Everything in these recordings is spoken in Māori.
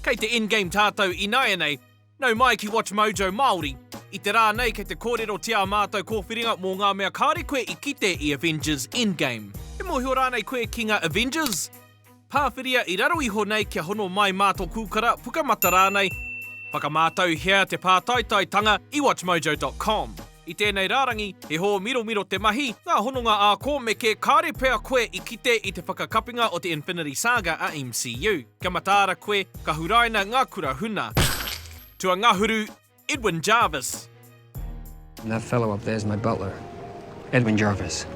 Kei te Endgame tātou ināianei, nau mai ki WatchMojo Māori. I te rā nei kei te kōrerotia ā mātou kōwhiringa mō ngā mea kāore koe i kite i Avengers, Endgame. E mōhio rānei koe ki ngā Avengers? Pāwhiria i raro iho nei kia hono mai mā tō kūkara, pukamata rānei. Whakamātauhia te pātaitaitanga i WatchMojo.com. I tēnei rārangi, he hōmiromiro te mahi, ngā hononga ā-kōmeke, kāre pea koe i kite i te whakakapinga o te Infinity Saga a MCU. Kia mataara koe, ka huraina ngā kura huna. Tuangahuru, Edwin Jarvis. And that fellow up there's my butler, Edwin Jarvis.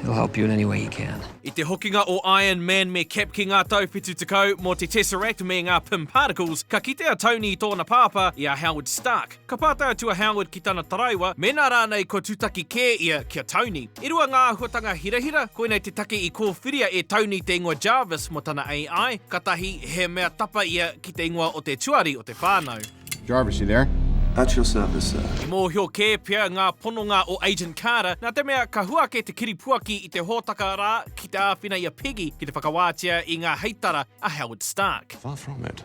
He'll help you in any way he can. I te hokinga o Iron Man me Cap ki ngā tau 70 mō te Tesseract me ngā Pym Particles, ka kite a Tony i tōna pāpā, i a Howard Stark. Ka pātai atu a Howard ki tana taraiwa mēnā rānei kua tūtaki kē ia ki a Tony. I rua ngā āhuatanga hirahira, koinei te take i kōwhiria e Tony te ingoa Jarvis mō tana AI, ka tahi, he mea tapa ia ki te ingoa o te tuari o te whānau. Jarvis, you there? At your service, sir. I mōhio kē pea ngā pononga o Agent Carter, nā te mea ka hua ake te kiripuaki i te hōtaka rā ki te āwhina i a Peggy ki te whakawātea i ngā heitara a Howard Stark. Far from it.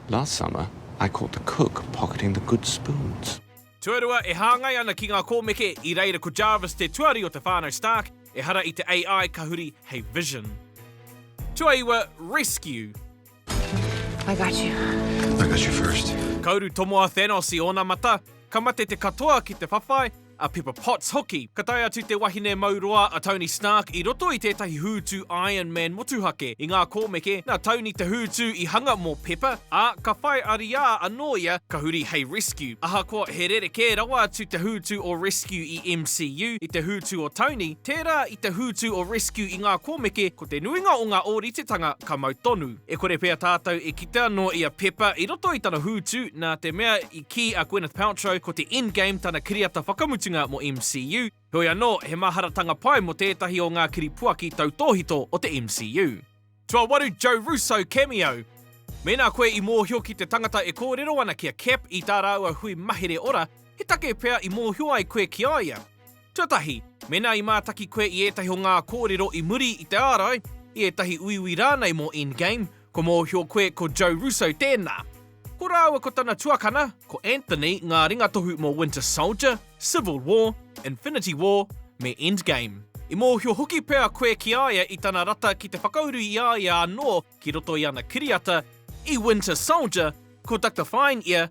Last summer I caught the cook pocketing the good spoons. Tuarua e hāngai ana ki ngā kōmeke, i reira ko Jarvis te tuari o te whānau Stark, ehara i te AI ka huri hei Vision. Tuaiwa, Rescue. I got you. I got you first. Ka uru tomo a Thanos i ōna mata, ka mate te katoa ki te whawhai, a Pepper Potts hoki. Ka tae atu te wahine mau roa a Tony Stark i roto i tētahi hūtu Iron Man motuhake. I ngā kōmeke, nā Tony te hūtu i hanga mō Pepper, ā, ka whai ariā anō ia ka huri hei Rescue. Ahakoa he rerekē rawa atu te hūtu o Rescue i MCU, i te hūtu o Tony, tērā i te hūtu o Rescue i ngā kōmeke, ko te nuinga o ngā ōritetanga ka mau tonu. E kore pea tātou e kite anō i a Pepper i roto i tana hūtu, nā te mea i. Ki a Gwyneth Paltrow, ko te Endgame tana kiriata whakamutunga mō MCU, heoi anō, he maharatanga pai mō tētahi o ngā kiripuaki tautōhito o te MCU. Tuawaru Joe Russo cameo! Mēnā koe i mōhio ki te tangata e kōrero ana ki a Cap i tā rāua hui mahere ora, he take pea i mōhio ai koe ki a ia? Tuatahi, mēnā i mātaki koe i ētahi o ngā kōrero i muri i te ārai, i ētahi uiui rānei mō Endgame, kua mōhio koe ko Joe Russo tēnā. Ko rāua ko tana tuakana, ko Anthony ngā ringatohu mō Winter Soldier, Civil War, Infinity War, me Endgame. I mōhio hoki pea koe ki a ia i tana rata ki te whakauru i a ia anō ki roto i ana kiriata, i Winter Soldier, ko Doctor Fine ia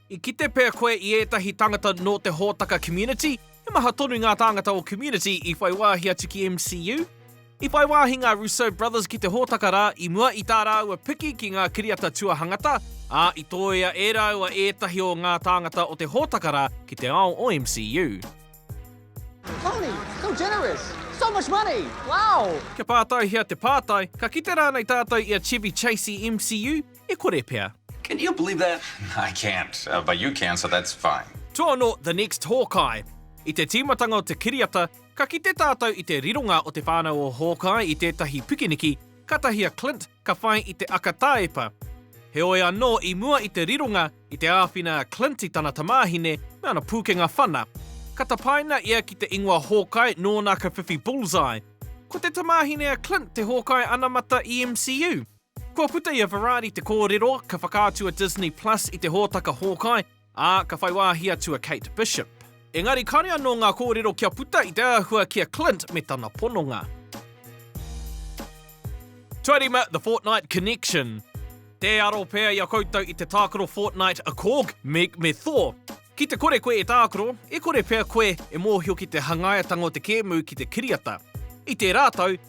I kite pea koe i ētahi tāngata nō te hōtaka community? He maha tonu ngā tāngata o community i whai wāhi atu ki MCU. I whai wāhi ngā Russo Brothers ki te hōtaka rā i mua i tā rāua piki ki ngā kiriata tuahangata, ā, i tōia e rāua ētahi o ngā tāngata o te hōtaka rā ki te ao o MCU. Tony, so generous! So much money! Wow! Kia pātaihia te pātai, ka kite rānei tātou i a Chevy Chase i MCU? e kore pea. Can you believe that? I can't, but you can, so that's fine. Toono the next Hawkeye. I te tīmatanga o te kiriata, ka kite tātou i te rironga o te whānau o Hawkeye i tētahi pikiniki, kātahi a Clint ka whai i te aka tāepa. Heoi anō, i mua i te rironga, i te āwhina a Clint i tana tamāhine me ana pūkenga whana. Ka tapaina ia ki te ingoa Hawkeye nōna ka whiwhi bullseye. Ko te tamāhine a Clint te Hawkeye anamata i MCU. Kua puta i a Varadi te kōrero, ka whakaatu a Disney Plus i te hōtaka Hawkeye, ā, ka whai wāhi atu a Kate Bishop. Engari kāre anō ngā kōrero kia puta i te āhua ki a Clint me tana pononga. Tuarima The Fortnite Connection Tē aro pea i a koutou i te tākaro Fortnite a Korg, Meg me Thor. Ki te kore koe e tākaro, e kore pea koe e mōhio ki te hangaia-tanga o te kēmu ki te kiriata. I tērā tau,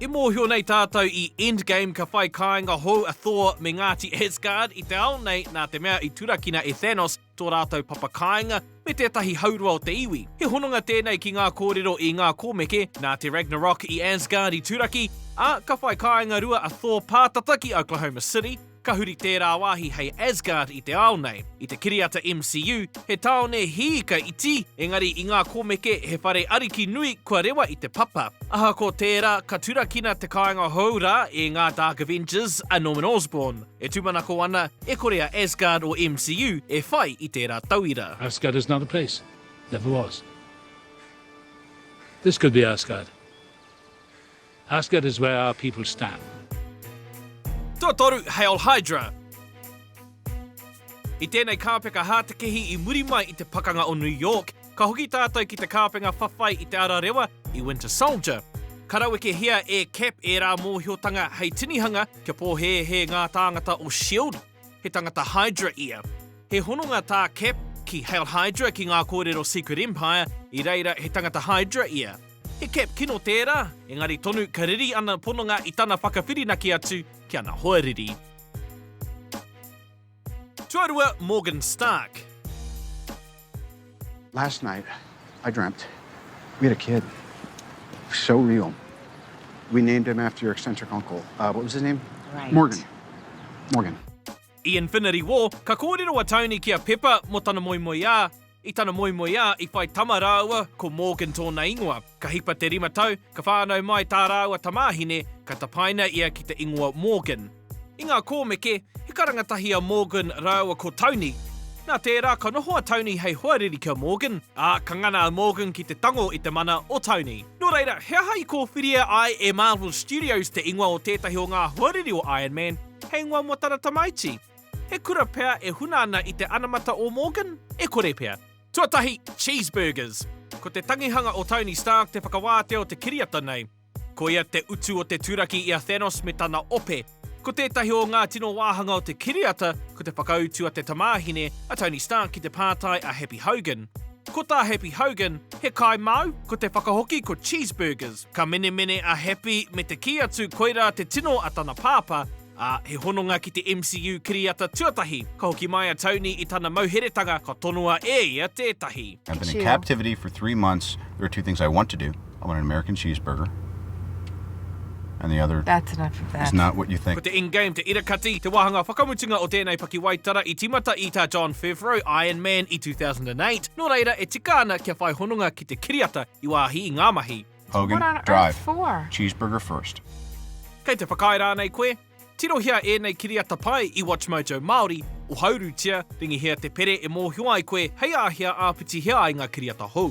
E mōhio nei tātou i Endgame ka whai kāinga hou a Thor me Ngāti Asgard i te ao nei nā te mea i turakina e Thanos tō rātou papa kāinga me tētahi haurua o te iwi. He hononga tēnei ki ngā kōrero i ngā kōmeke, nā te Ragnarok i Asgard i turaki, ā, ka whai kāinga rua a Thor pātata ki Oklahoma City, Ka huri tērā wāhi hei Asgard i te ao nei. I te kiriata MCU, he tāone hiika iti, engari i ngā kōmeke he whare ariki nui kua rewa i te papa. Ahakoa tērā, ka turakina te kāinga hou rā e ngā Dark Avengers a Norman Osborn. E tūmanako ana, e kore a Asgard o MCU e whai i tērā tauira. Asgard is not a place. Never was. This could be Asgard. Asgard is where our people stand. Tuatoru, Hail Hydra! I tēnei kāpeka hātekehi i muri mai i te Pakanga o New York, ka hoki tātou ki te kāpenga whawhai i te ara rewa i Winter Soldier. Ka rawekehia e Cap ērā mōhiotanga hei tinihanga kia pōhēhē ngā tāngata o Shield, he tangata Hydra ia. He hononga tā Cap ki Hail Hydra ki ngā kōrero Secret Empire, i reira he tangata Hydra ia. He cap kino tērā, engari tonu ka riri ana pononga i tana whakawhirinaki atu ki ana hoa riri. Tuarua Morgan Stark. Last night I dreamt we had a kid so real we named him after your eccentric uncle what was his name? Morgan Morgan. I Infinity War, ka kōrero a Tony ki a Pepper mō tana moemoeā, i tana moemoeā i whai tama rāua ko Morgan tōna ingoa. Ka hipa te rima tau, ka whānau mai tā rāua tamāhine, ka tapaina ia ki te ingoa Morgan. I ngā kōmeke, he karanga tahi a Morgan rāua ko Tony. Nā tērā, ka noho a Tony hei hoariri ki a Morgan, ā, ka ngana a Morgan ki te tango i te mana o Tony. Nō reira, he aha i kōwhiria ai e Marvel Studios te ingoa o tētahi o ngā hoariri o Iron Man? He ingoa mō tana tamaiti? He kura pea e huna ana i te anamata o Morgan? E kore pea. Tuatahi, Cheeseburgers. Ko te tangihanga o Tony Stark te whakawātea o te kiriata nei. Ko ia te utu o te turaki i a Thanos me tana ope. Ko tētahi o ngā tino wāhanga o te kiriata, ko te whakautu a te tamāhine, a Tony Stark ki te pātai a Happy Hogan. Ko tā Happy Hogan, he kāi māu, ko te whakahoki ko Cheeseburgers. Ka menemene a Happy me te kī atu koirā te tino a tana pāpā, ā, he hononga ki te MCU kiriata tuatahi. Ka hoki mai a Tony i tana mauheretanga ka tonoa e ia tētahi. I've been in captivity for three months, there are two things I want to do, I want an American cheeseburger and the other is not what you think. Ko te Endgame te ira kati, te wāhanga whakamutunga o tēnei pakiwaitara i tīmata i tā Jon Favreau, Iron Man, i 2008, nō reira e tika ana kia whai hononga ki te kiriata I wāhi i ngā mahi. Hogan, What on earth drive. for? Cheeseburger first. Kei te whakaae rānei koe? Tirohia ēnei kiriata pai i WatchMojo Māori, ohaurutia, ringihia te pere e mōhio ai koe hei āhea āpitihia ai ngā kiriata hou.